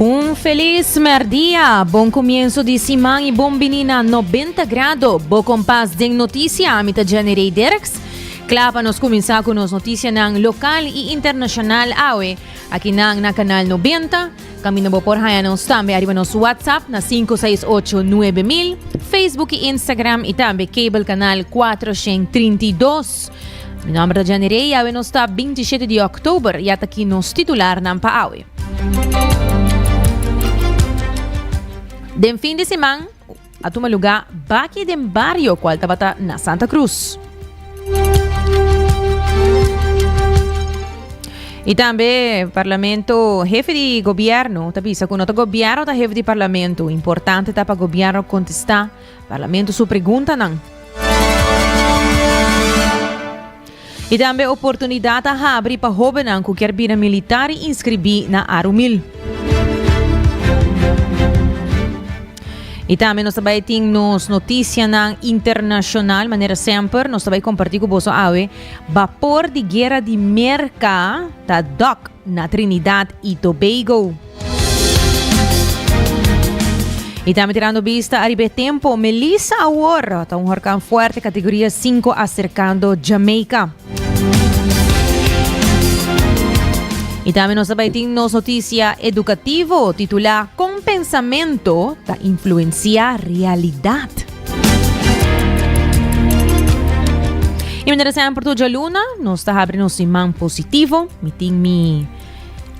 Un felis merdia, bon kumienso di siman i bon bini na Nobenta Grado, bo kompas den notisia. Ami ta Jenny Rey Derks. Kla pa nos kuminsá ku nos notisianan lokal i internashonal awe aki nan na Kanal Nobenta. Kaminda bo por haña nos tambe ariba nos WhatsApp na sinku seis ocho nuebe mil, Facebook i Instagram i tambe Cable Kanal kuater shen trinta i dos. Mi nòmber ta Jenny Rey i awe nos ta binti shete di òktober. Ya ta aki nos titularnan pa awe. Den fin di siman a tuma lugá baki den bario kual tabata na Santa Krus. I tambe parlamento, hefe di gobièrnu ta bisa ku no ta gobièrnu ta hefe di parlamento, importante ta pa gobièrnu kontestá parlamento su preguntanan. I tambe oportunidat a habri pa hobennan ku kier bira militar i inskribí na Arumil. I tambe nos ta bai tin nos notisianan internashonal. Manera semper, nos ta bai kompartí ku boso awe. Bapor di guera di Merka ta dòk na Trinidad i Tobago. Y tambe tirando vista ariba e tempo, Melissa awor ta un horkan fuerte categoría 5 acercando Jamaica. Y tambe nos bai tin nos noticia educativo titula Con pensamento ta influencia realidad. Y mientras tanto, por tu luna, nos ta habri nos iman positivo, mi tin mi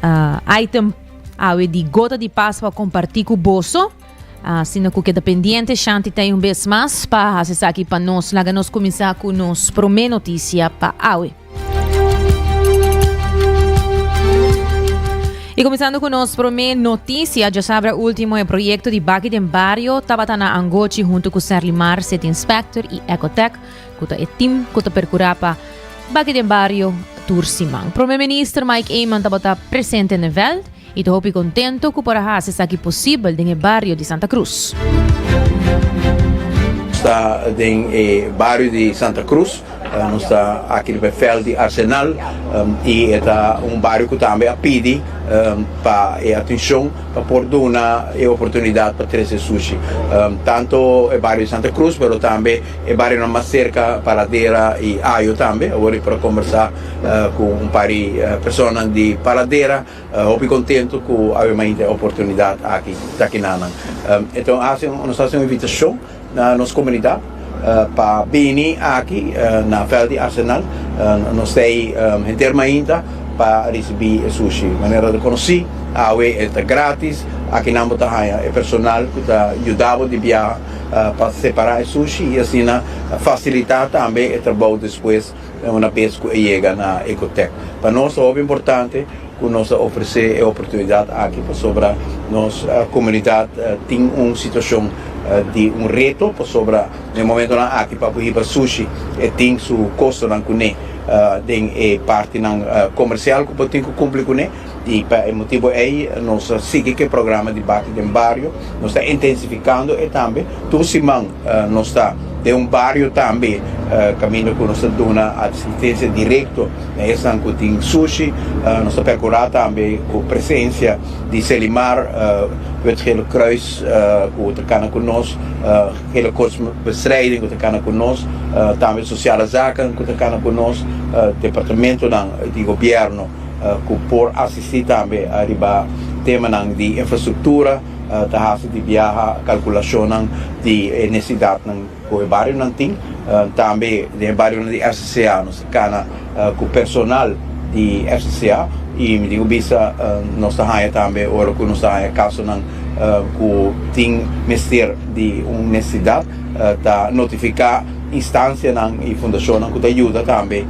uh, item awe di gota di pas pa comparti cu boso. Uh, sino cu queda pendiente, Shanti tem un vez mas pa hace saki pa nos. Laga nos comienza cu nos prome noticia pa awe. Y comenzando con nos prome noticia, ya sabra último el proyecto di Baki den Barrio, Tabatana Angochi junto con Serlimar, City Inspector y Ecotech. cu ta e team cu ta percura pa baki den bario tur siman. Prome Minister Mike Eman tabata presente n'e veld y ta hopi contento cu por a haci esaki posibel den e bario di Santa Cruz. Nos ta den e bario di Santa Cruz, nos ta aki riba e veld di Arsenal y e ta un bario cu tambe a pidi pa e atencion pa por duna e oportunidad pa trece sushi. Tanto e bario di Santa Cruz pero tambe E barionan mas serka Paradera i Ajo tambe. Awor i por a kombersá ku un par di personanan di Paradera. Hopi kontentu ku Avemainta e oportunidat aki ta kina nan. E ta un hasi, nos ta hasi un invitashon na nos komunidat pa bini aki na vèlt di Arsenal. Nos ta ei henter mainta pa risibí e sushi. Manera ta konosí, awe e ta grátis. Aki nan bo ta haña e personal ku ta yuda bo di biaha. pa separá e sushi i asina fasilitá tambe e trabou despues una bes ku e yega na Ecotec. Pa nos ta hopi importante ku nos a ofresé e oportunidat aki pasobra nos komunidat tin un situashon di un reto pasobra na e momentunan aki pa bo hiba sushi e tin su kostonan kuné den e partinan komersial ku bo tin ku kumpli kuné. I pa e motibu ei nos ta sigui cu e programa di Bati den Bario, nos ta intensificando e tambe. Tur siman nos ta den un bario tambe caminda cu nos ta duna asistencia directo na esnan cu tin sushi. Nos ta percura tambe cu presencia di Selimar, Wit Gele Kruis cu ta cana cu nos, Gele Kos Bestrijding cu ta cana cu nos, tambe Sociale Zaken cu ta cana cu nos, departamentonan di gobierno. ku por asistí tambe riba temanan di infrastruktura ta hasi di biaha kalkulashonnan di e nesidatnan ku e barionan tin. Tambe den e barionan di RCCA nos ta kana ku personal di RCCA i mi tin ku bisa nos ta haña tambe ora ku nos ta haña kasonan ku tin mester di un nesidat ta notifiká. instansianan i fundashonnan ku ta yuda tambe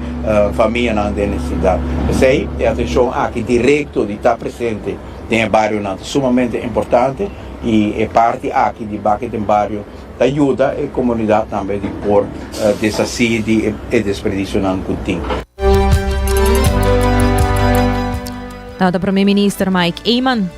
famianan den nesesidat. P'esei e atenshon aki direkto di ta presente den e barionan ta sumamente importante i e parti aki di bak'e den bario ta yuda e komunidat tambe di por deshasí di e desperdisionan ku tin. Tabata Prome Minister Mike Eman.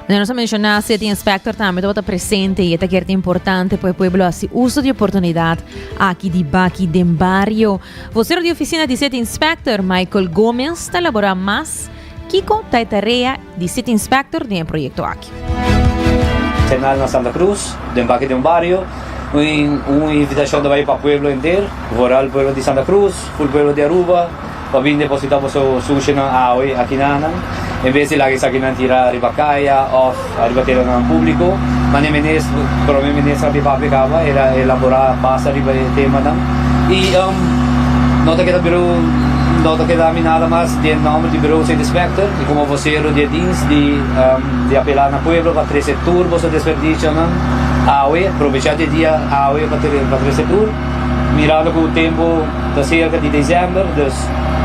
Na nos a menciona si tin inspector tambe tabata presente y e ta kier ta importante pa e pueblo a si uso di oportunidad aki di baki den bario. Vocero di oficina di city inspector Michael Gomez ta elabora mas kico ta e tarea di city inspector den e proyecto aki. Tenal na Santa Cruz den baki den un bario un invitacion ta bay pa pueblo henter, vooral pueblo di Santa Cruz, full pueblo di Aruba. pa bin deposita boso sushonan awe akinanan en bes di laga esaki nan tira riba kaya of riba teranan publiko mane menes prome menes a bin papia kaba e a elabora basa riba e temanan y no ta keda birou no ta keda mi nada mas den nomber di birou Sint Inspector y como vocero di e dins di apela na pueblo pa trece tur boso desperdicionan awe provecha di e dia awe pa trece tur mirando cu tempo. Ta serka di December dus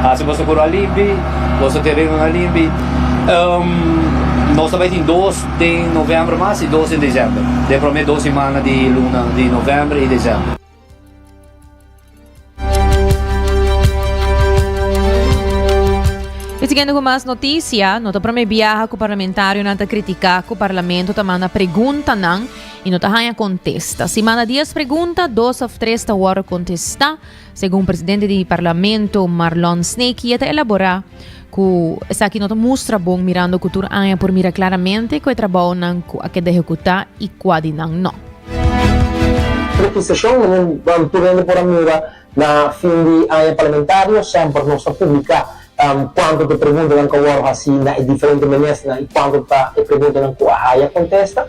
hasi boso kural limpi, boso terenonan limpi. Um, nos ta bai tin dos den November mas i dos den December. Den prome dos simana di luna di November i December. I siguiendo cu mas noticia, no ta prome biaha cu parlamentarionan ta critica cu parlamento ta manda preguntanan I no ta haña kontesta. Si manda dies pregunta, dos òf tres ta wòrdu kontestá, segun presidente di Parlamento Marlon Sneeky e ta elaborá ku esaki no ta mustra bon mirando ku tur aña por mira klaramente ku e trabaonan ku a keda ehekutá i kua di nan no. Rekisashonnan, mi ban purende por a mira Na fin di aña parlamentario semper nos ta publica cuanto ta e preguntanan cu a wordo haci na e diferente ministernan y cuanto ta e preguntanan cu a haya contesta.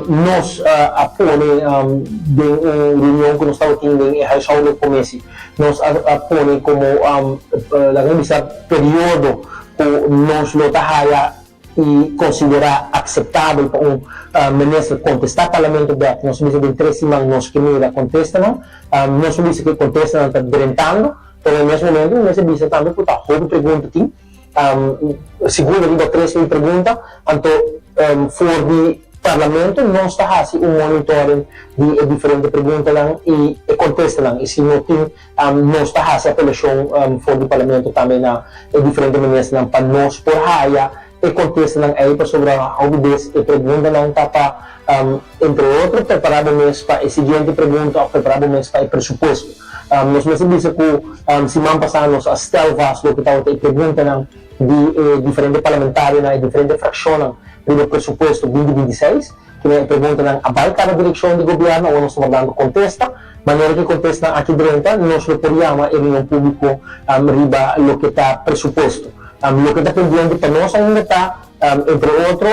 Nos a pone den un reunion cu nos tabatin den e huishoudelijk comisie, nos a pone como laga mi bisa periodo cu nos lo ta haya i konsiderá akseptabel pa un minister kontestá parlamento dèf. Nos a bisa den tres siman nos ke mira kontestanan. Nos a bisa ku e kontestanan ta drentando, pero na mes momentu mes a bisa tambe ku ta hopi pregunta tin. Segundo riba tres mil pregunta, anto for di parlamento nos ta hasi un monitoring di e diferente preguntanan i e kontestanan i si no tin Nos ta hasi apelashon for di Parlamento tambe na e diferente Ministernan pa nos por haya e contestanan ey pasobra hopi bes e preguntanan ta pa, entre otro, prepara bo mes pa e siguiente pregunta of prepara bo mes pa e presupuesto. Nos mester bisa cu siman pasa nos a stel vast loke tawata e preguntanan di e diferente Parlamentarionan, e diferente fraccionnan riba presupuesto binti binti seis. Kile e preguntanan a bai kada direkshon di gobièrnu awor nos ta bordando kontesta. Manera ku e kontestanan aki drenta nos lo por yama e reunion públiko riba loke ta presupuesto. Loke ta pendiente pa nos ainda ta, entre otro,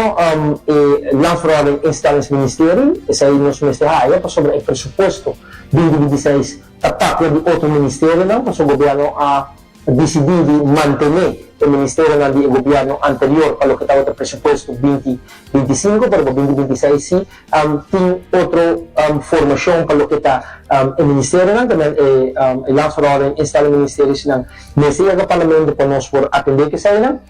e Landsverordening Instellingsministerie, esei nos mester haya pasobra e presupuesto di Individueseis ta papia di otro ministerionan, pasobra gobièrnu a. a disidí di mantené e ministerionan di e gobièrnu anterior pa loke tabata presupuesto binti binti sinku, pero pa binti binti seis sí tin otro formashon pa loke ta e ministerionan, tambe e Landsverhouding instellingministeriesnan mester yega Parlamento pa nos por atendé ku eseinan.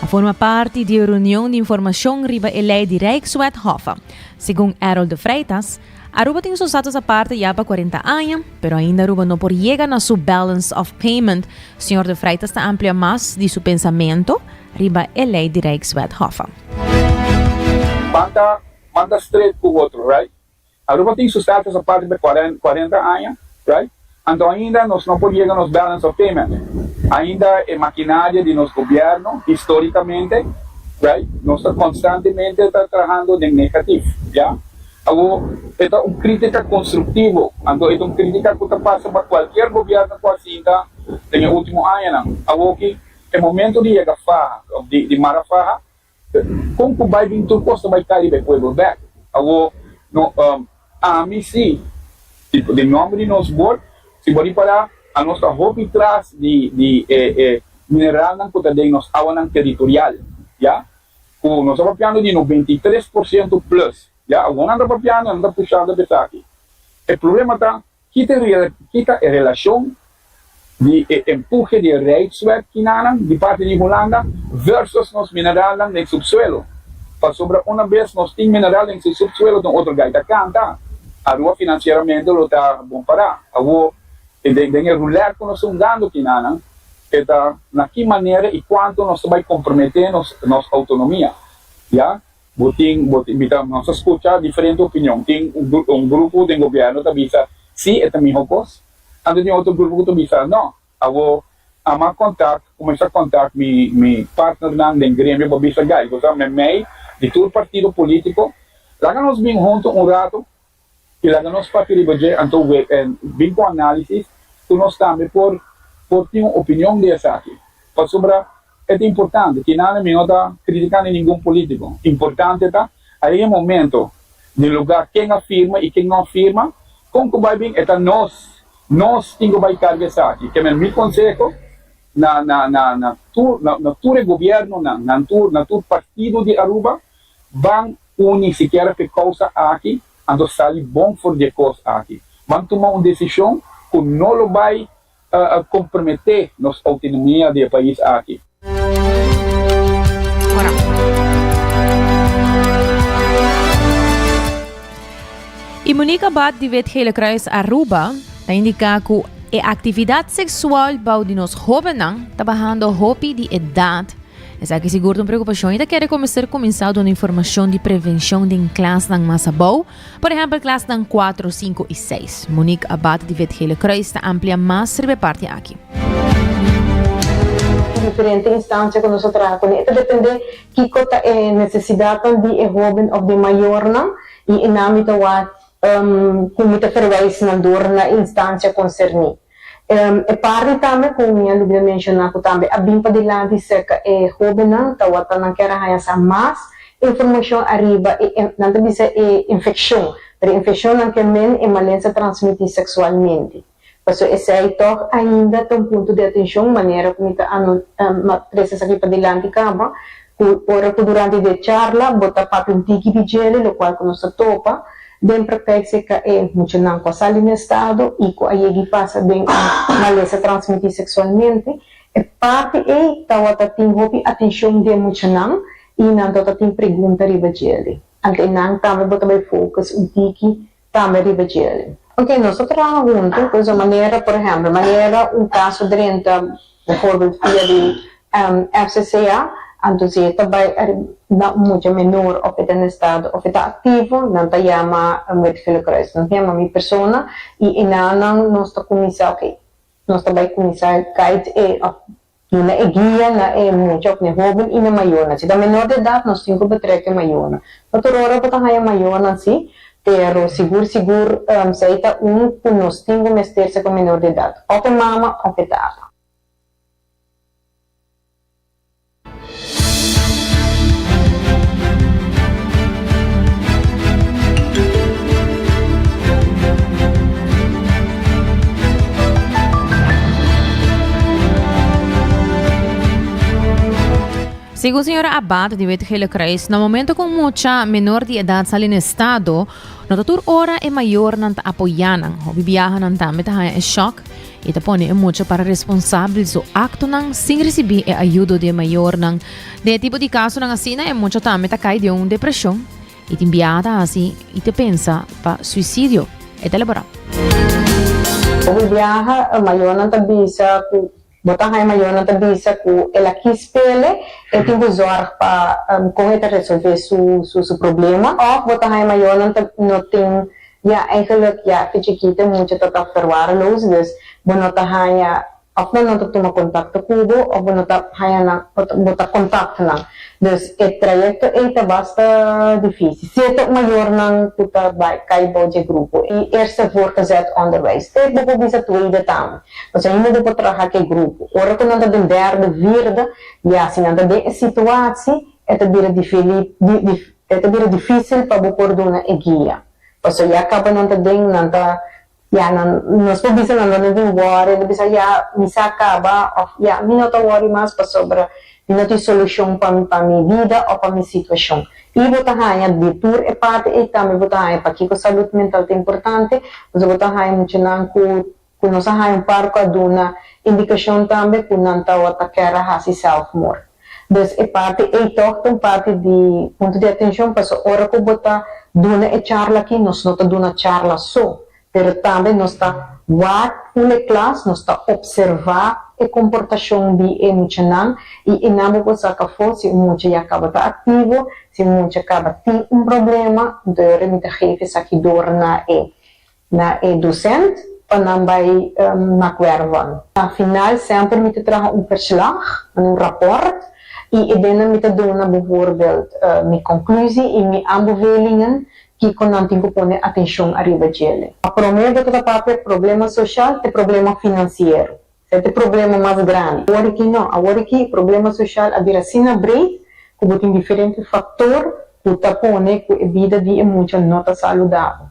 A forma parti di e reunion di informashon riba e lei di Rijkswethof. Segun Errol de Freitas, Aruba tin su status aparte ya pa cuarenta aña, pero ainda Aruba no por yega na su balance of payment. Señor de Freitas ta amplia mas di su pensamento riba e lei di Rijkswethof. Banda manda stret ku otro, right? Aruba tin su status aparte pa e cuarenta aña, right? Anto ainda nos no por yega nos balance of payment. Ainda e maquinaria di nos gobierno, historicamente, right, nos ta constantemente ta trahando den negatif, ya. Awor, e ta un critica constructivo, anto e ta un critica cu ta pasa pa cualkier gobierno cu a sinta den e ultimo añanan. Awoki e momento di yega faha, di mara faha. Kon ku bai bin tur kos ta bai kai riba e puebel bek? Awo no um ami si, si den nòmber di nos bòrd, si bo ripará, anos ta hopi tras di di e e mineralnan ku ta den nos awanan teritorial, ya, ku nos ta papiando di noventa i tres por siento plus, ya. Awor nan ta papiando, nan ta pushando esaki. E problema ta Ki ta e relashon di e empuhe di e Rijkswet Kinanan di parti di Hulanda versus nos mineralnan den subsuelo? Pasobra una bes nos tin mineral den su subsuelo tin otro gai ta kanta, Aruba finansieramente lo ta bon pará. Awor, den e roulette ku nos ta hungando kinanan, e ta na ki manera i kuantu nos ta bai komprometé nos autonomia, ya? Bo tin, bo tin, bita, nos a scucha diferente opinion. Tin un grupo den gobierno ta bisa, si, e ta miho cos. Anto tin otro grupo cu ta bisa, no. Awo, ama contact, cuminsa contact mi, mi partnernan den gremio pa bisa, guy, bo sa memey di tur partido politico, laga nos bin hunto un rato. Y laga nos papia riba dje, anto bin cu analisis cu nos tambe por por tin un opinion di esaki. Pasobra e ta importante, tinana mi no ta critica ni ningun politico, importante ta a e momento den lugar ken a firma y ken no a firma, con cu bay bin e ta nos, nos tin cu bay carga esaki. Keme mi conseho na na na tur na tur e gobiernonan, na tur na tur partido di Aruba. Ban uni sikiera p'e kousa aki, anto sali bon for di e kos aki. Ban tuma un desishon ku no lo bai komprometé nos outonomia di e pais aki. E Monique Abad di Wit Gele Kruis Aruba ta indiká ku e aktividat seksual bou di nos hóbennan ta bahando hopi di edat Esaki sigur ta un preokupashon i ta kere komeser kuminsá duna informashon di prevenshon den klasnan mas abou, por ehèmpel klasnan kuatro, sinku i seis. Monique Abad di VET Gele Kruis ta amplia mas riba e parti aki. E diferente instansia ku nos a traha kuné e ta dependé kiko ta e nesesidatnan di e hóben òf di e mayornan i e nami ta wak ku mi ta ferwys nan dor na e instansia konserní. E parti tambe ku mi a lubra menshoná ku tambe a bin padilanti serka e hóbennan tawata nan ker a haña sa mas informashon ariba e, nan ta bisa e infekshon, pero e infekshon nan ke men e malensa transmití seksualmente. Pasobra esei tòg ainda ta un punto di atenshon, manera ku mi ta presa esaki padilanti kaba, Cu ora cu durante de charla bo ta papia un tiki di djele lo cual cu nos ta topa den practec se ca e muchanan cu a sali na estado y cu a yegi pasa den un malesa transmiti sexualmente e parti ey tawata tin hopi atencion di e muchanan y nan tawata tin pregunta riba djele ante nan tambe bo ta bay focus un tiki tambe riba djeri. Ok, nos ta traha huntu pues un manera, por ehempel, manera un caso drenta bijvoorbeeld via di FCCA, anto si e ta bai ariba na un mucha menor of e ta na estado of e ta activo, nan ta yama Wet Gele Kruis, nan ta yama mi persona y enanan nos ta cuminsa, ok, nos ta bai cuminsa guide e of Nos na e guia na e mucha òf n'e hóben i n'e mayonan. Si ta menor de edat, nos tin ku betrek e mayonan. No tur ora bo ta haña mayonan sí, pero sigur sigur esei ta un ku nos tin ku mester ser pa menor de edat, òf e mama òf e tata. Segun señora Abad di Wit Gillecruis, na momento ku un mucha menor di edat sali na e stado, no ta tur ora e mayornan ta apoyá nan. Hopi biahanan tambe ta haña e shòk. I ta pone e mucha para responsabel su aktonan sin risibí e ayudo di e mayornan. Den e tipo di kasonan asina e mucha tambe ta kai den un depreshon i tin bia ta hasi i ta pensa pa suisidio, e ta elaborá. Òf e biaha e mayornan ta bisa ku bo ta haña e mayornan ta bisa ku el a kis pele, el tin ku zòrg pa kon e ta resolvé su problema òf bo ta haña e mayornan ta no tin. Ya eigenlijk ya te chikito e mucha ta ta verwaarloosd dus bo no ta haña of nan no ta tuma contacto cu bo of bo no ta haña nan of bo ta contact nan dus e trayecto ey ta basta dificil sierto mayornan cu ta bay cay bou dje grupo ey eerste voorgezet onderwijs te bo por bisa tweede tambe pasobra ainda bo por traha cu e grupo ora cu nan ta den derde vierde ya si nan ta den e situatie e ta bira difili di dif. E ta bira difícil pa bo por duna e guia, pasobra ya caba nan ta den, nan ta ya nan, nos por bisa nan dónde tin worry, nan ta bisa ya mi sa caba of ya mi no ta worry mas pasobra mi no tin solucion pa pa mi vida o pa mi situacion. Y bo ta haña di tur e parti ey tambe bo ta haña pakico salud mental ta importante, pasobra bo ta haña muchanan cu Ku nos a haña un par ku a duna indikashon tambe ku nan tawa ta kèr a hasi sèlfmoòr. Dus e parti ei tòg ta un parti di punto di atenshon pasobra ora ku bo ta duna e charla aki nos no ta duna charla so pero tambe nos ta wak un e klas, nos ta opservá e komportashon di e muchanan i einan bo por saka afó si un mucha ya kaba ta aktivo, si un mucha kaba tin un problema, entonces yo remiti a gefe esaki dor na e. Na e docent pa nan bai na Cuervon. Na final semper mi ta traha un verslag, un rapport, y e dennan mi ta dona bevoorbeeld mi conclusie y mi aanbevelingen kico nan tin cu pone atencion ariba djele. Pa prome bo ta ta papia problema social te problema financiero. Esey ta e problema mas grandi. Awor aki no. Awor aki e problema social a bira asina breed cu bo tin diferente factor cu ta pone cu e bida di e mucha no ta saludabel.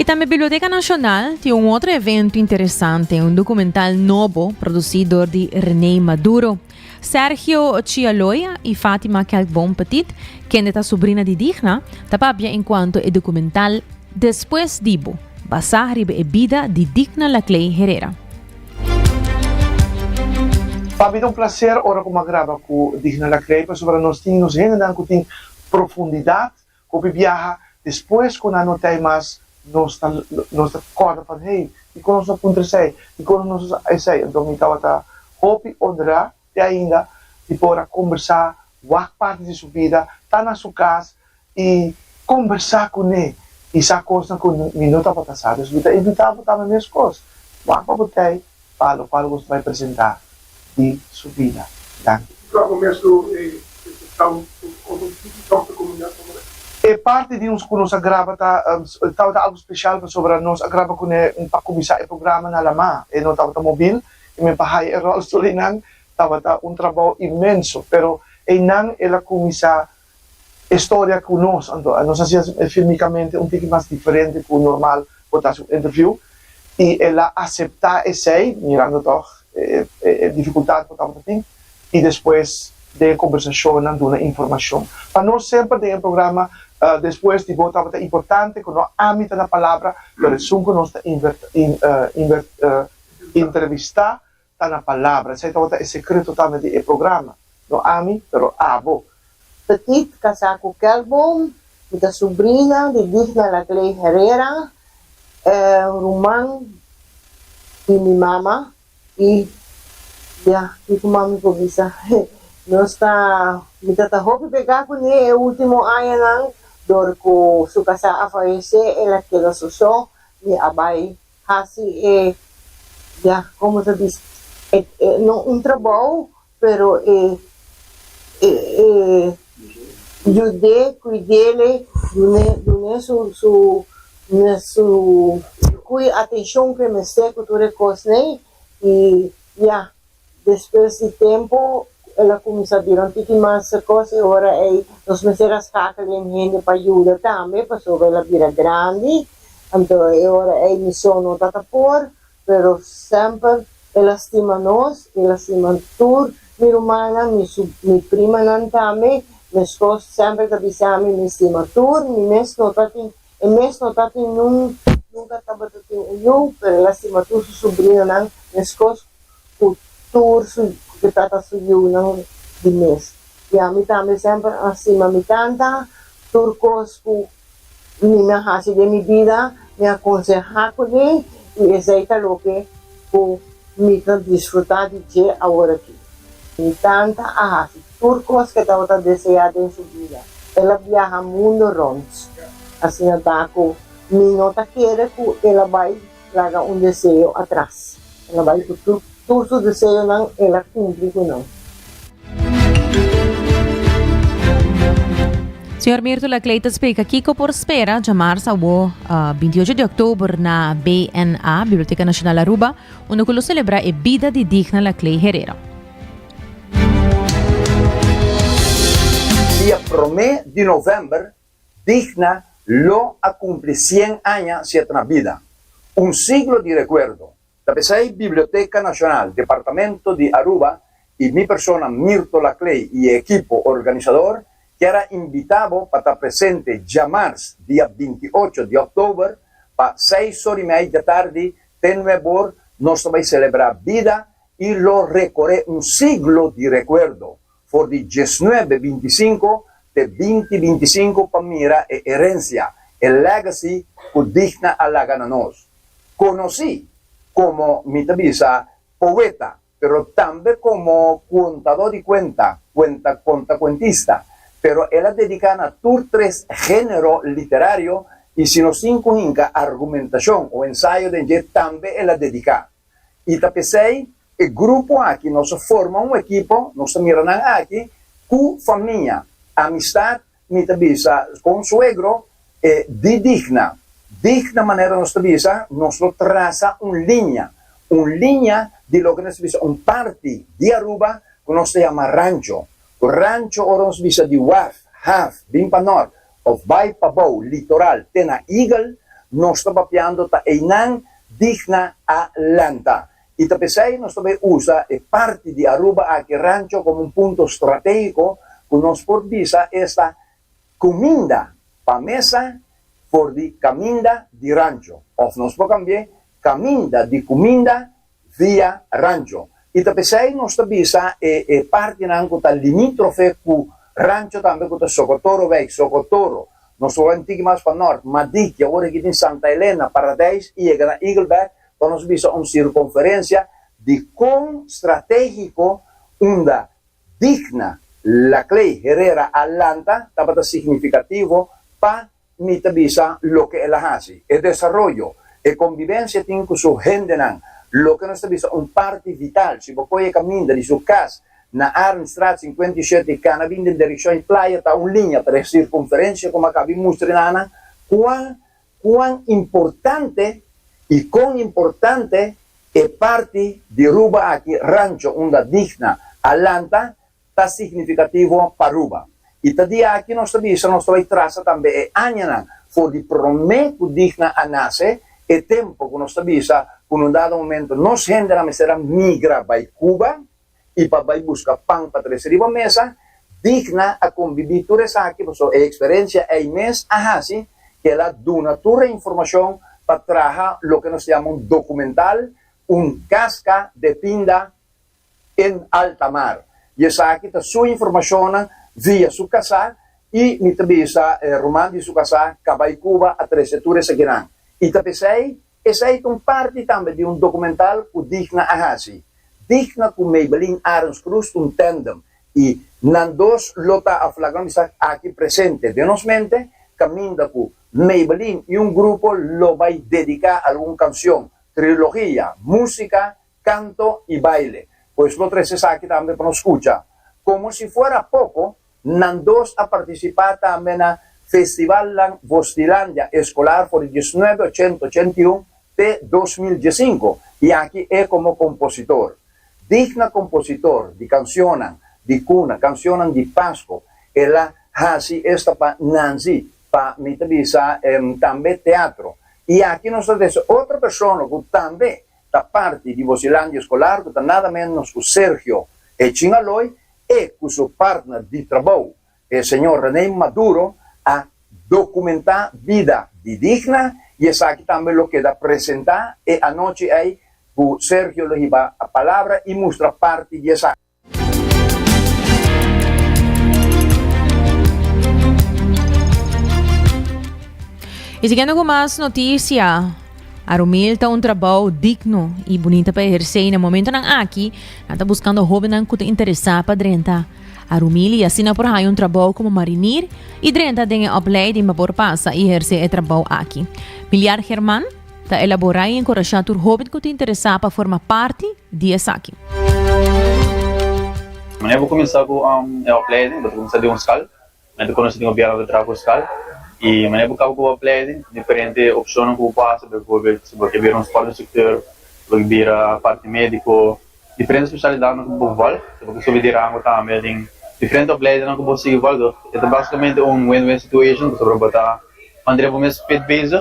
Y tambe Biblioteca Nacional tin un otro evento interesante, un documental nobo produci door di René Maduro. Sergio Chialoya y Fatima Kelkboom Petit, kende ta sobrina di Digna, ta papia en cuanto e documental Después Dibu, basa riba e bida di Digna Laclay Herrera. Pa mi ta un placer ora cu m'a graba cu Digna Lacrey pasobra nos tin nos hendenan cu tin profundidad. Hopi biaha despues cu nan no t'ai mas nos ta nos ta corda van hey, dicon nos no puntra esey, dicon nos no sa esey. Enton mi tawata hopi honra te ainda di por a kombersá wak parti di su bida, ta na su kas i kombersá kuné i sa kosnan ku mi no tabata sa. Pues mi ta invitá bo tambe meskos, wak pa bo tei pa lo kual boso bai presentá di su bida. Danki. Ku tabata mes lo e presentau den su otro sitio tambe pa komunidat ta bai? E parti di nos ku nos a graba ta tabata algu spesial pasobra nos a graba kuné pa kuminsá e programa na Alamá. E no tabata mobil I mi pa haya e ròl Surinam tabata un trabou inmenso, pero einan el a kuminsá e storia ku nos, anto nos a hasié e filmikamente un tiki mas diferente ku normal por ta hasi un interviú, i el a aseptá esei, mirando tòg e difikultat ku tabata tin, i despues den e kombersashonnan duna informashon. Pa nos semper den e programa Despues di bo tabata importante ku no ami ta na palabra, pero esun ku nos ta invertá. Entrevistá ta na palabra. Esei tabata e sekreto tambe di e programa. No ami, pero abo. Petit kasá ku Kelkboom. Mi ta subrina di Digna Lagley Herrera, e ruman di mi mama. I ya, kiko mas mi por bisa? Nos ta, mi ta ta hopi begá kuné e último añanan, dor ku su kasá a falesé, el a keda sosó, mi a bai Hasi e ya como se dice e no un trabou pero e e yude cuidele dune dune su su dune su cu e atencion cu e mester cu tur e cos ne y ya. Despues di tempu el a kuminsá bira un tiki mas kos i ora ei nos mester a skákala den hende pa yuda tambe pasobra el a bira grandi. Anto e ora ei mi son no ta ta por, pero semper el a stima nos i el a stima tur mi rumannan, mi su, mi primanan tambe. Meskos semper ta bisa mi mi stima tur, mi mes no ta tin, e mes no ta tin nun, nunka tabata tin un yu, pero el a stima tur su subrinanan meskos. cu tur su cu ta trata su yiunan di mes. I ami tambe semper a stima mi tanta, tur cos cu mi mi a haci den mi bida mi a conseha cule i esey ta loke cu mi ta disfruta di dje aworakí. Mi tanta a haci tur cos cu e tabata desea den su bida. El a biaha mundo rond. Asina ta cu mi no ta kere cu el a bay. Laga un deseo atras. E lo bai cu tur su deseonan e la cumpli cu nan. Señor Mirto Laclay ta splica kico por spera djamarsa awor binti ocho di october na BNA, Biblioteca Nacional Aruba, unda cu lo celebra e bida di Digna Laclay Herero. Dia prome di november Digna lo a kumpli sien aña si e ta na bida. Un siglo di rekuerdo. Ta p'esei Biblioteka Nashonal, Departamento di Aruba i mi persona Mirto Laclay i e ekipo organisador kier a invitá bo pa ta presente djamars dia binti ocho di òktober pa seis or i mei dja tardi te nuebe or nos ta bai selebrá bida i lo rekoré un siglo di rekuerdo For di diesnuebe bintisinku te binti bintisinku pa mira e herensia, e legacy ku digna a laga na nos. Konosí komo mi ta bisa poeta pero tambe komo kontadó di kuenta, kuenta kontakuentista, pero el a dediká na tur tres género literario i si nos tin ku hinka argumentashon o ensayo den dje tambe el a dediká. I ta p'esei e grupo aki nos a forma un ekipo, nos ta mira nan aki ku famia, amistat, mi ta bisa kon suegro, e di digna. Digna manera nos ta bisa, nos lo trasa un liña, un liña di loke nos ta bisa un parti di Aruba ku nos ta yama rancho. Ku rancho ora nos bisa di waf, haf, bin pa nort, of bai pa bou litoral te na Eagle, nos ta papiando ta einan digna a lanta. I ta pesei nos ta bay usa e parti di Aruba aki rancho como un punto strategico cu nos por bisa esta cuminda pa mesa for di caminda di rancho of nos por cambi'e caminda di cuminda Via Rancho y ta pesey nos ta bisa e e partinan cu ta limitrofe cu Rancho tambe cu ta Socotoro Wijk, Socotoro, nos wou en tiki mas pa Nort, Madik y awor aki tin Santa Elena, Paradijs y yega na Eagle Back pa nos bisa un circonferencia di con strategico unda Digna, Laclay, Herrera a lanta tabata significativo pa Mi ta bisa loke el a hasi. E desaroyo, e kombibensia tin ku su hendenan, loke nos ta bisa un parti vital. Si bo koi e kaminda di su kas na Arendstraat sinkuenta i shete i kana bin den direkshon i playa, ta un liña tres sirkunferensia ku maka bin mustra e nannan kuan kuan importante i kon importante e parti di Ruba aki, rancho unda Digna a lanta ta signifikativo pa Aruba. I ta di aki nos ta bisa nos ta bai trasa tambe e añanan for di promé ku Digna a nase, e tempu ku nos ta bisa ku na un dado momento nos hendenan mester a migra bai Cuba i pa bai buska pan pa trese riba mesa. Digna a kombibí tur esaki pasobra e eksperensia ei mes a hasi ku el a duna tur e informashon pa traha loke nos ta yama un dokumental Un Kaska de Pinda. en alta mar. I esaki ta su informashonnan via su kasá i mi ta bisa e ruman di su kasá ka bai Cuba a trese tur esakinan. I ta p'esei, esei ta un parti tambe di un dokumental ku Digna a hasi. Digna ku Maybelline Arends-Cruz ta un tandem i nan dos lo ta a flaknan di sa aki presente den nos mente kaminda ku Maybelline i un grupo lo bai dediká algun kanshon, trilogia, músika canto y baile. Pues lo trece esaki tambe pa nos scucha. Como si fuera poco, nan dos a participa tambe na Festivalnan Vostilandia Escolar for di diecinuebe, ochenta, ochenta i un te dos mil diesinco y aki e como compositor. Digna compositor di cancionnan di cuna, cancionnan di Pasco. El a haci esta pa Nanzi, pa mi ta bisa tambe teatro. Y aki nos ta dese otro persona cu tambe ta parti di Vocelandia Escolar cu ta nada menos cu Sergio E. Chinaloy e cu su partner di trabou, e señor René Maduro, a documenta bida di digna y esaki tambe lo keda presenta e anochi ei cu Sergio lo hiba palabra y mustra parti di esaki. Y siguiendo con más noticia. Arumil ta un trabajo digno y bonita para ejercer. En el momento nan aquí, nan ta buscando jóvenes que te interesa para drenta. Arumil y así na por hay un trabajo como marinir y drenta den el opleiding para por pasa y ejercer el trabajo aquí. Miliar Germán ta elabora y encoraja tur joven que te interesa para forma parte di esaki. Manera bo kuminsá ku e opleiding, bo ta kuminsá den un skal. Mi a ta konosé den gobièrnu ku a ta traha ku skal. I manera bo kaba ku bo opleiding, diferente opshonnan ku bo por hasi, bijvoorbeeld si bo ke bira un sportinstrukteur, si bo ke bira parti médiko, diferente spesialidatnan ku bo val, si bo ke subi di rango tambe den diferente opleidingnan ku bo sigui val. E ta basikamente un win-win situation pasobra bo ta mantené bo mes fit bezig.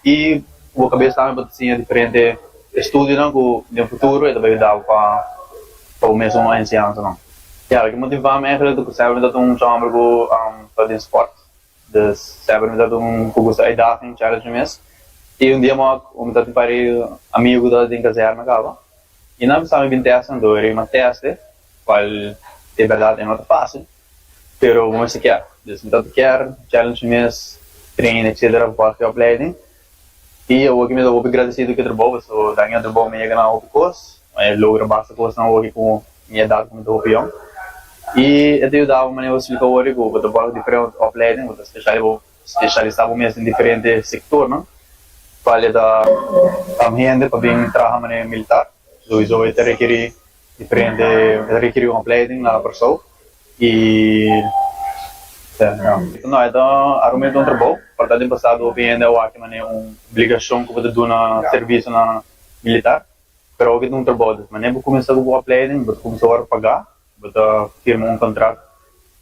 I bo kabes tambe pa ta siña diferente estudionan ku den futuro e ta bai yuda bo pa bo mesun enseñansanan. Ya, lo ke motivá mi èntrale ta ku sèber mi tabata un chomber ku ta den spòrt, dus sèber mi tabata un ku gusta uitdaging, challenge, mes. I un dia mòk mi tabata tin pari amigu ku tabata den kazèrna kaba i nan a bisa mi bin tèst kantu a riba, ma tèst e, kual di bèrdat e no ta fásil. Pero bo mester kier. Des mi tabata kier challenge mi mes train etc. Bo papia di opleiding. I awor ke mi ta hopi gradisidu ku e trabou paso dan mi e trabou mi a yega na hopi kos. Mi a logra basta kosnan awor ku mi edat ku mi ta hopi yòn. I e ta yuda bo manera bo splika awor di ku bo ta bòrda diferente opleiding, bo ta speshalisá bo mes den diferente sektornan. Falta hende pa bin traha manera militar. Sowieso e ta rekerí Di prende e ta rikiri un opleiding na Kòrsou i no e ta arumenta un trabou pa ta den pasado hopi hende a wak e manera un obligashon ku bo ta duna sirviso na militar pero hopi ta un trabou di manera bo kuminsá ku bo opleiding bo ta kuminsá ora pagá bo ta firma un kontrato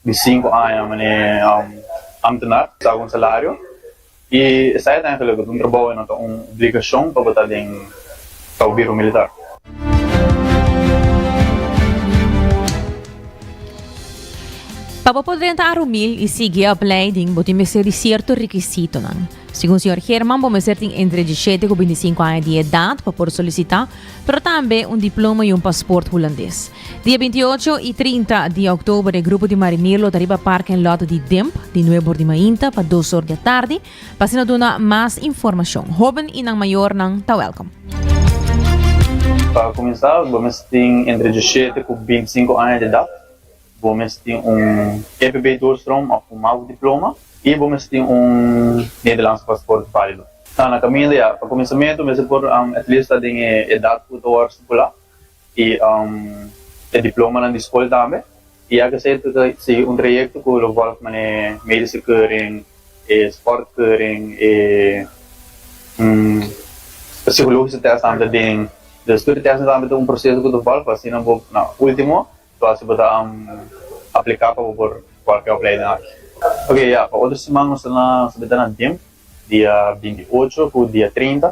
di sinku aña mane amtenar ta ku un salario i esei ta hende loke ta un trabou i no ta un obligashon pa bo ta den kaubiro militar. Pa bo por drenta Arumil i sigui e opleiding bo tin mester di sierto rekisitonan. Segun señor German bo mester tin entre dishete ku bintisinku aña di edat pa por solisitá, pero tambe un diploma i un pasport hulandes. Di e binti ocho i trinta di òktober e grupo di marinier lo ta riba parking lot di Dimp di Nuwe Bordi Mainta pa dos or di atardi pa asina duna mas informashon. Hóben i nan mayornan ta wèlkom. Pa kuminsá bo mester tin entre dishete ku binti sinku aña di edat, bo mester tin un EPB-Doorstrooms òf un mau diploma i bo mester tin un Nederlandse pasport válido. Ta na kaminda ya. Pa kuminsamentu mester por at least ta den e edat ku ta wòrdu stipulá. y e diplomanan di scol tambe y ya ke ser ke sigui un trayecto cu lo volg mane medische keuring e sport keuring e psicologische test tambe den de studie test nan tambe ta un proceso cu ta volg pa asina bo na ultimo lo haci bo ta aplica pa bo por volg e opleiding aki okay ya pa otro siman nos ta na nos ta bita na dimp dia binti ocho cu dia treinta.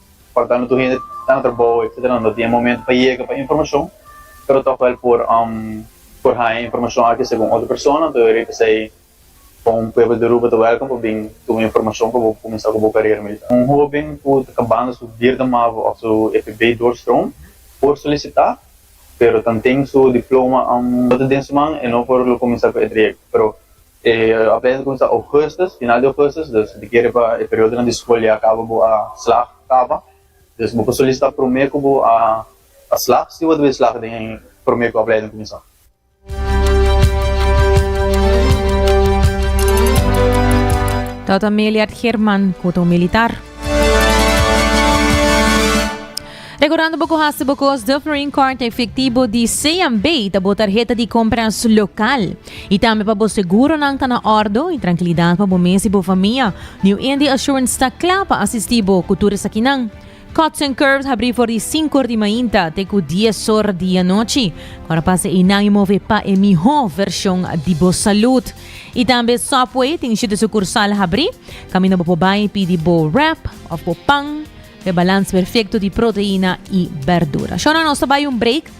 Porta no tur hende ta na trabou etcetera no ta tin e momento pa yega pa informacion pero tok wel por por haña informacion aki segun otro persona enton yo rei pesei con un pueblo di Aruba ta welcom pa bin tuma informacion pa bo cuminsa cu bo carera militar. Un hoben cu ta cabando su vierde mavo of su FB doorstroom por solicita pero tanten su diploma no ta den su man e no por lo cuminsa cu e trayecto pero E apèndice cuminsa augustus, final di augustus, dus bo kere pa e periodonan di skol ya kaba bo a slag kaba, dus bo por solisitá promé ku bo a slag si bo a debí slag den promé ku apleiding kuminsá. Dat a Meliard German ku ta un militar. Rekordando bo ku hasta bo kos Dufferin Kart efektibo di CNB ta bo tarheta di kompras lokal. I tambe pa bo seguronan ta na ordo i trankilidat pa bo mes i bo famia. New Indy Assurance ta kla pa asistí bo ku tur esakinan. Cuts and Curves habrí for di sinku or di mainta te ku dies or di anochi. Ku ora pasa einan i move pa e mihó vershon di bo salud. I tambe Safeway tin shete sukursal habrí kaminda bo por bai pidi bo wrap òf bo pan ku e balans perfekto di proteina i bèrdura. Shornan nos ta bai un break.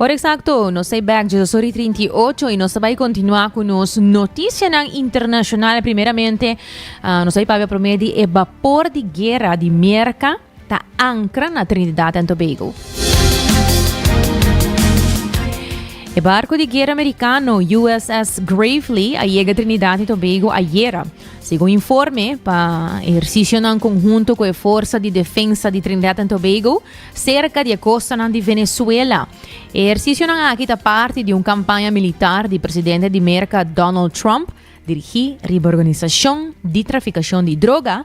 Ora eksakto, nos ta e bèk Jesusori 38 i nos ta bai kontinuá ku nos notisianan internashonal. Primeramente, nos bai pabia promé di e bapor di guera di Merka. ta ankra na Trinidad and Tobago. E barco di guerra americano USS Gravely a yega Trinidad y Tobago ayera. Segun informe, pa ejercicionan conjunto cu e Forza di Defensa di Trinidad and Tobago cerca di e costanan di Venezuela. E ejercicionan aki ta parti di un campaña militar di presidente di Merca Donald Trump dirigi riba organisacion di traficacion di droga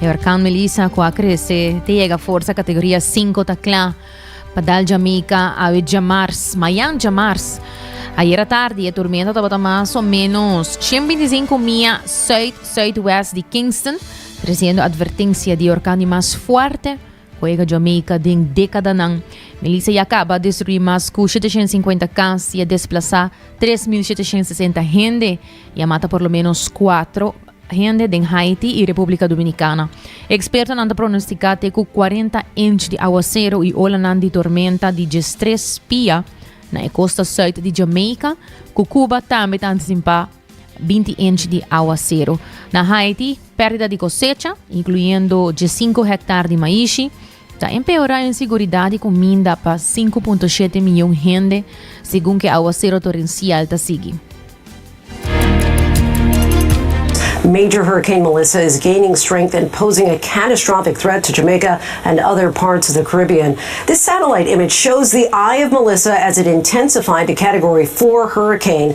Herkan Melissa ku a krese te yega forsa kategoria 5 ta kla pa dal Jamaica awe djamars, mayan djamars. Ayera tardi e tormenta tabata mas o menos 125 mia suid-suidwest di Kingston, tresiendo advertencia di orkan di mas fuerte Juega Jamaica den dékadanan. Melissa ya kaba destruí mas ku sheteshen sinkuenta kas, ya desplasá tres mil sheteshen sesenta hende, ya mata por lo ménos kuatro hende den Haiti i Repúblika Dominikana. Ekspertonan ta pronostiká te ku kuarenta inch di awasero i olanan di tormenta di djestres pia na e kosta sùit di Jamaica, ku Kuba tambe ta antisipa binti inch di awaseru. Na Haiti, perdida di cosecha, incluyendo dje sinku hektar di maishi, ta empeora insiguridad di cominda pa sinku punto shete miyon hende, segun ke awaseru torensial ta sigui. Major Hurricane Melissa is gaining strength and posing a catastrophic threat to Jamaica and other parts of the Caribbean. This satellite image shows the eye of Melissa as it intensified to Category 4 hurricane.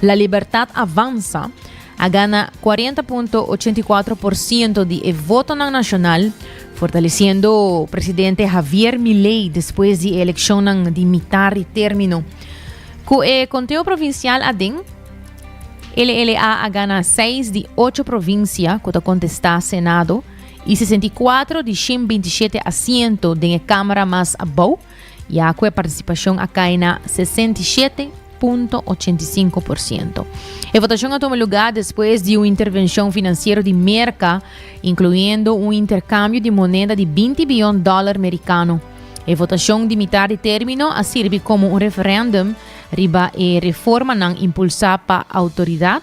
La Libertad Avanza a gana cuarenta punto ochenta i cuatro por ciento di e votonan nacional, fortaleciendo presidente Javier Milei despues di e eleccionnan di mita ri termino. Cu e conteo provincial aden, LLA a gana seis di ocho provincia cu ta contesta Senado y sesenta i cuatro di shin binti shete asiento den e Camara mas abou, Ya cu e participacion a cay na 67.85%. E votacion a tuma lugar despues di un intervencion financiero di Merca, incluyendo un intercambio di moneda di 20 biyon dollar mericano. E votacion di mitar di termino a sirbi como un referendum riba e reformanan impulsa pa autoridad,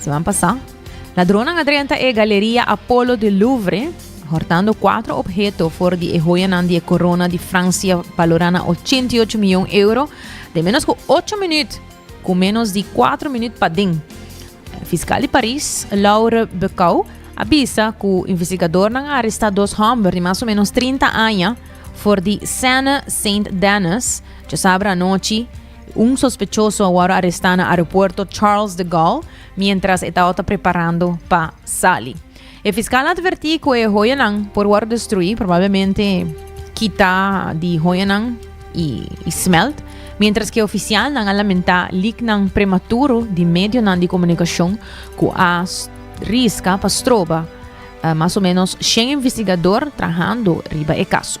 Seman pasá, ladronnan a drenta e Galeria Apollo di Louvre, hortando kuater obheto for di e hoyanan di e korona di Fransia balorá na ochenta i ocho mion euro den ménos ku ocho minüt, ku ménos di kuater minüt paden. Fiskal di Paris, Laure Becau, a bisa ku investigadornan a arestá dos hòmber di mas o ménos trinta aña for di Seine Saint-Denis djosabra anochi, Un sospechoso a wòrdu arestá na aeropuerto Charles de Gaulle miéntras e tabata preparando pa sali. E fiskal a atvertí ku e hoyanan por wòrdu destruí, probablemente kitá di hoyanan i smelt, miéntras ku e ofisialnan a lamentá liknan prematuro di medionan di komunikashon ku a riska pa stroba mas o ménos shen investigador trahando riba e kaso.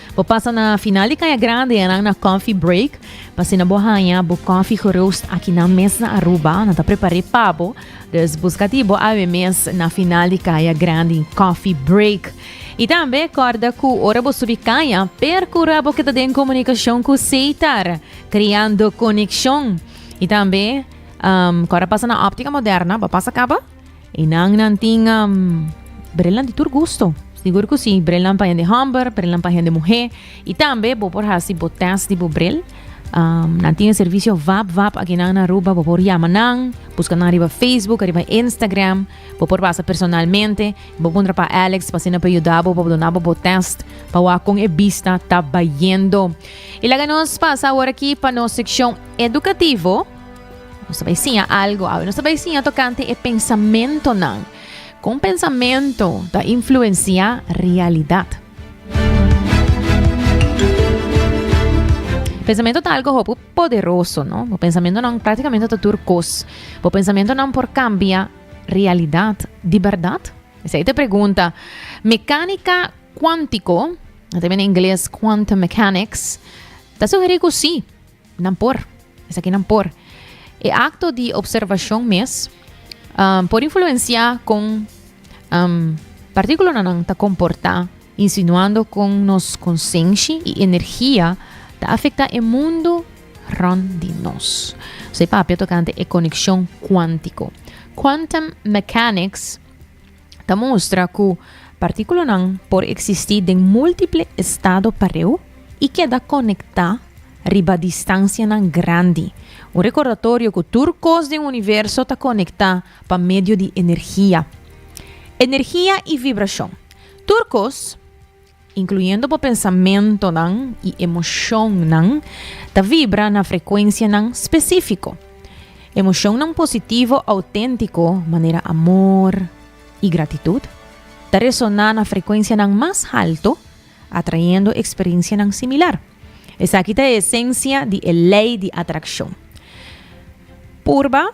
Bo pasa na final di Kaya Grande e nan na Coffee Break. Pa asina bo haña bo koffie geroast aki nan mes na Aruba. Nan ta prepar'é pa bo. Dus buskati bo awe mes na final di Kaya Grande Coffee Break. I tambe kòrda ku ora bo subi kaya, perkura bo keda den komunikashon ku Seitar, kreando konekshon. I tambe um, ku ora pasa na Optica Moderna, bo pasa kaba? I nan nan tin um, brelan di tur gusto. Sigur ku si, brelan pa hende homber, brelan pa hende muhé. I tambe bo por hasi bo test di bo brel. Um, nan tin e servisio vap vap aki nan na Aruba, bo por yama nan, buska nan riba Facebook, riba Instagram, bo por pasa personalmente, bo puntra pa Alex pa si nan por yuda bo, pa bo duna bo bo test, pa wak kon e bista ta bayendo. I laga nos pasa awor aki pa nos sekshon edukativo. Nos ta bai siña algo awe. Nos ta bai siña tokante e pensamentonan. Kon pensamento ta influenciá realidat. Pensamento ta algo hopi poderoso, no? Bo pensamentonan práktikamente ta tur kos. Bo pensamentonan por kambia realidat di bèrdat? Esei ta e pregunta. Mekánika kuántiko, nan ta biba na ingles quantum mechanics, ta sugerí ku sí. Nan por. Esaki nan por. E acto di observacion mes um, por influencia con um, partículo nan ta comporta, insinuando con nos conscienshi y energia ta afecta e mundo rond di nos. Sei papia tocante e conexion cuántico. Quantum mechanics ta mustra ku partíkulanan por eksistí den múltiple estado pareu i keda konektá riba distansianan grandi. Un rekordatorio ku tur kos den universo ta konektá pa medio di energia. Energia i vibrashon. Tur kos. incluyendo bo pensamentonan y emocionnan, ta vibra na frecuencianan specifico. Emocionnan positivo autentico, manera amor y gratitud, ta resona na frecuencianan mas halto, atrayendo experiencianan similar. Esaki ta e esencia di e ley di atraccion. Purba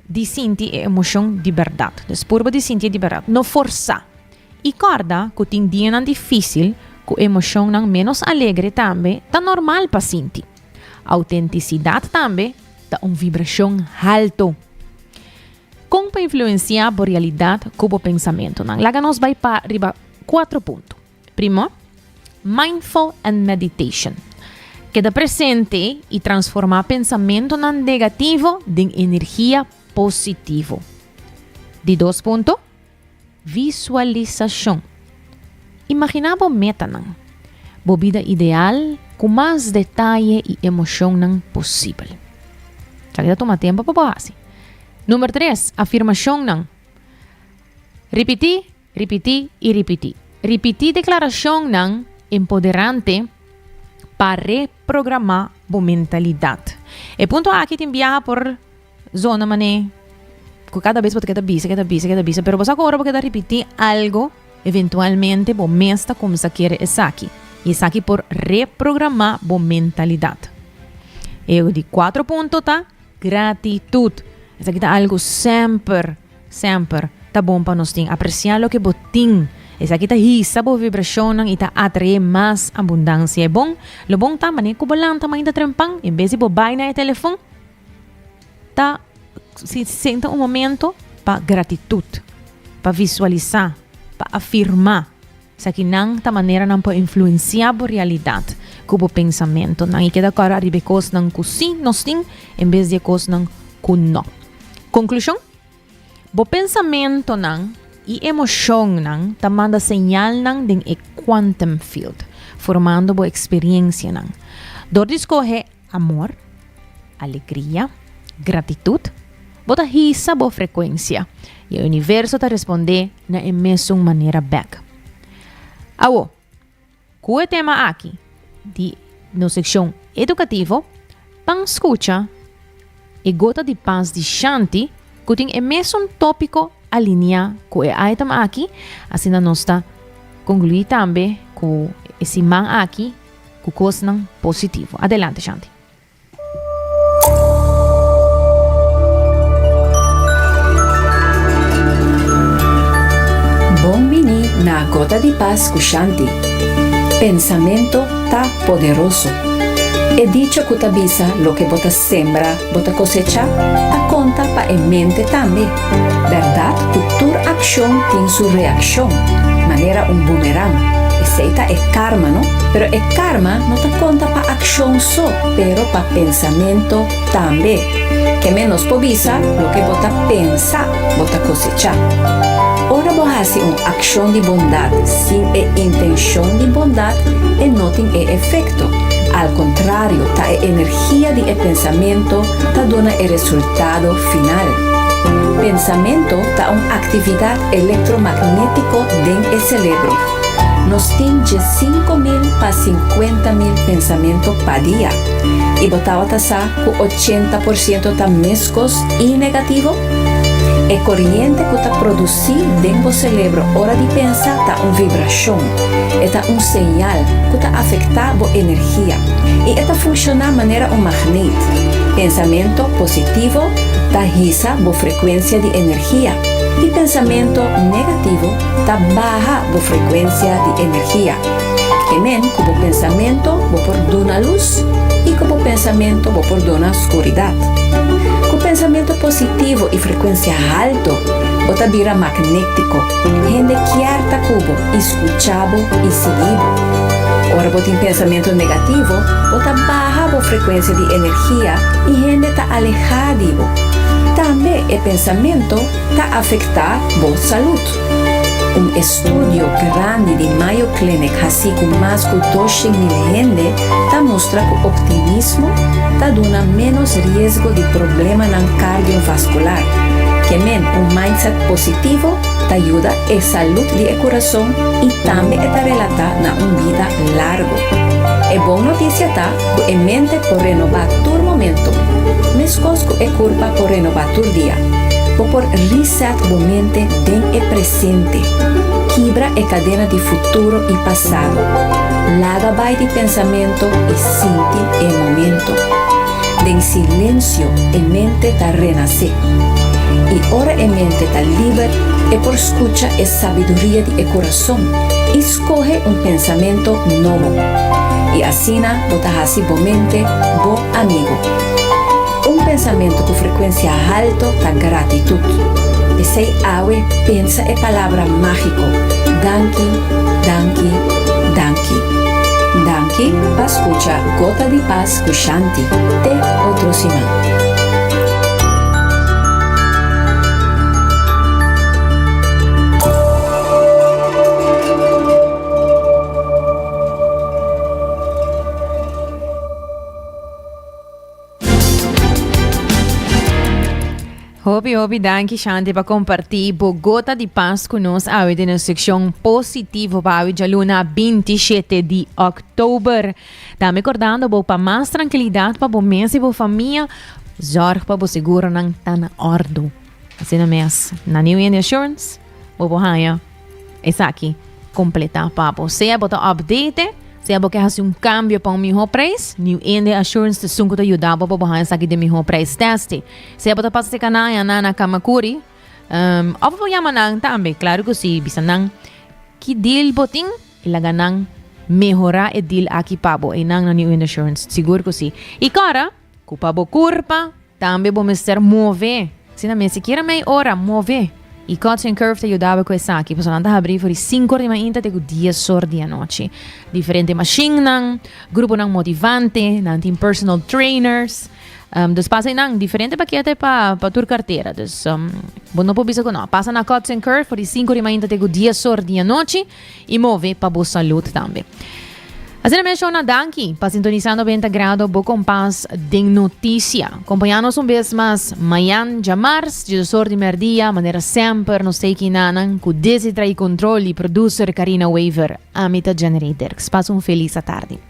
Di sinti e emocion di berdad. Des purba di sinti e di berdad. No forsa. I corda cu tin dianan dificil cu emocionnan menos alegre tambe ta normal pa sinti. Autenticidad tambe ta un vibracion halto. Con pa influencia bo realidad cu bo pensamentonan? Laga nos bai pa riba cuatro punto. Primo, mindful and meditation. Keda presente i transformá pensamentonan negativo den energia positivo. Di dos punto, visualisashon. Imaginá bo metanan, bo bida ideal ku mas detaye i emoshonnan posibel. Sa ke ta tuma tempu pa bo hasi. Number tres, afirmashonnan. Ripití. Ripití i ripití. Ripití deklarashonnan empoderante pa reprogramá bo mentalidat. E punto aki tin biaha por zona manera ku kada bes bo ta keda bisa, keda bisa, keda bisa, pero bo sa ku ora bo keda ripití algu, eventualmente bo mes ta kumsa kere esaki. I esaki por reprogramá bo mentalidat. E di kuatro punto ta gratitut. Esaki ta algu semper. Semper ta bon pa nos tin apresiá loke bo tin. Esaki ta hisa bo vibrashonnan i ta atraé mas abundansia. E bon lo bon ta manera ku bo lanta mainta trempan, en bes di bo bai na e telefon, ta senta un momento pa gratitut, pa visualisá, pa afirmá. Esakinan ta manera nan por influenciá bo realidat ku bo pensamentunan i keda kòrda riba e kosnan ku sí nos tin en bes di e kosnan ku no. Konklushon, Bo pensamentunan i emoshonnan ta manda señalnan den e quantum field, formando bo eksperiensianan. Dor di skohe Amor, alegria, gratitut, bo ta hisa bo frekuensia i e universo ta respondé na e mesun manera bèk. Awo, ku e tema aki di nos sekshon edukativo, pan skucha e gota di pas di Shanti ku tin e mesun tópiko aliniá ku e item aki, asina nos ta konkluí tambe ku e siman aki. Ku kosnan positivo. Adelante Shanti. Bon bini na Gota di Pas ku Shanti. Pensamentu ta poderoso. E dicho ku ta bisa loke bo ta Sembra, bo ta kosechá, ta konta pa e mente tambe. Bèrdat ku tur akshon tin su reakshon, manera un boomerang. Esei ta e karma, no? Pero e karma no ta konta pa akshon so, pero pa pensamentu tambe. Ke men nos por bisa, loke bo ta pensa, bo ta kosechá. Ora bo hasi un akshon di bondat sin e intenshon di bondat, e no tin e efekto. Al kontrario, ta e energia. Kia di e pensamentu ta duna e resultado final? Pensamentu ta un aktividat elektromagnétiko den e selebro. Nos tin dje sinku mil pa sinkuenta mil pensamentu pa dia. I bo tabata sa ku ochenta por siento ta meskos i negativo? E koriente ku ta produsi. Si den bo selebro ora di pensa ta un vibrashon, e ta un señal ku ta afektá bo energia i e ta funshoná manera un magnet. Pensamentu positivo ta hisa bo frekuensia di energia i pensamentu negativo ta baha bo frekuensia di energia. E men ku bo pensamentu bo por duna lus i ku bo pensamentu bo por duna skuridat. Ku pensamentu positivo i frekuensia haltu. Bo ta bira magnético. Hende kier ta cu bo y scucha bo y sigui bo. Ora bo tin pensamento negativo, bo ta baha bo frecuencia di energia y hende ta aleha di bo. Tambe e pensamento ta afecta bo salud. Studio grandi di Mayo Clinic hasi cu mas cu doce mil hende ta mustra cu optimismo ta duna menos riesgo di problemanan cardiovascular. Ke men un mindset positivo ta yuda e salud di e curason y tambe e ta relata na un bida largo. E bon noticia ta cu e mente por renoba tur momento, mescos cu e curpa por renoba tur dia. Bo por reset bo mente den e presente. presente, kibra e kadena di futuro i pasado, laga bai di pensamento i sinti e momento. Den silensio e mente ta renasé. I ora e mente ta liber, e por skucha e sabiduria di e kurason i skohe un pensamento nobo. I asina bo ta hasi bo mente bo amigu. Un pensamentu ku frekuensia haltu ta gratitut. P'esei awe pensa e palabra mágiko, Danki, danki, danki. Danki pa skucha Gota di Pas ku Shanti. Te otro siman. Hopi, hopi danki Shanti pa kompartí bo gota di pas ku nos awe den e sekshon positivo pa awe djaluna 27 di oktober. Tambe kordando bo pa mas trankilidat pa bo mes i bo famia, zòrg pa bo seguro nan ta na òrdu. Asina mes, na New Year Insurance, bo por haña Esaki completa pa bo. Sea bo ta update, sea bo ke hasi un cambio pa un mihor prijs, New India Assurance te sunku ta yuda bo pa bo haya esaki den mihor prijs testi. Sea bo ta pasa te kanaya nan na Kamakuri, um, of bo yama nan tambe, claro cu si, bisa nan ki deal bo tin y laga nan mehora e deal aki pa bo. Y nan na New India Assurance, sigur cu si. Y cora, Ku pa bo kurpa tambe bo mester move. Si nan mester kier mei ora move. I Coach and Curve ta yuda bo ku esaki, pasobra nan ta habrí for di sinku or di mainta te ku dies or di anochi. Diferente mashinnan, gruponan motivante, nan tin personal trainers. Um, dus pasa einan diferente pakete pa, pa tur kartera. Dus um, bo no por bisa ku no. Pasa na Coach and Curve for di sinku or di mainta te ku dies or di anochi. y move pa bo salud tambe. Asina mes Shona, danki pa sintonisa 90 grado bo kompas den noticia. Kompaña nos un bes mas mayan djamars, djisosor di merdia, manera semper nos teki nanan ku desi trai kontrol y producer Karina Wever. Ami ta Jenny Rey Dirks. Pas un felis atardi.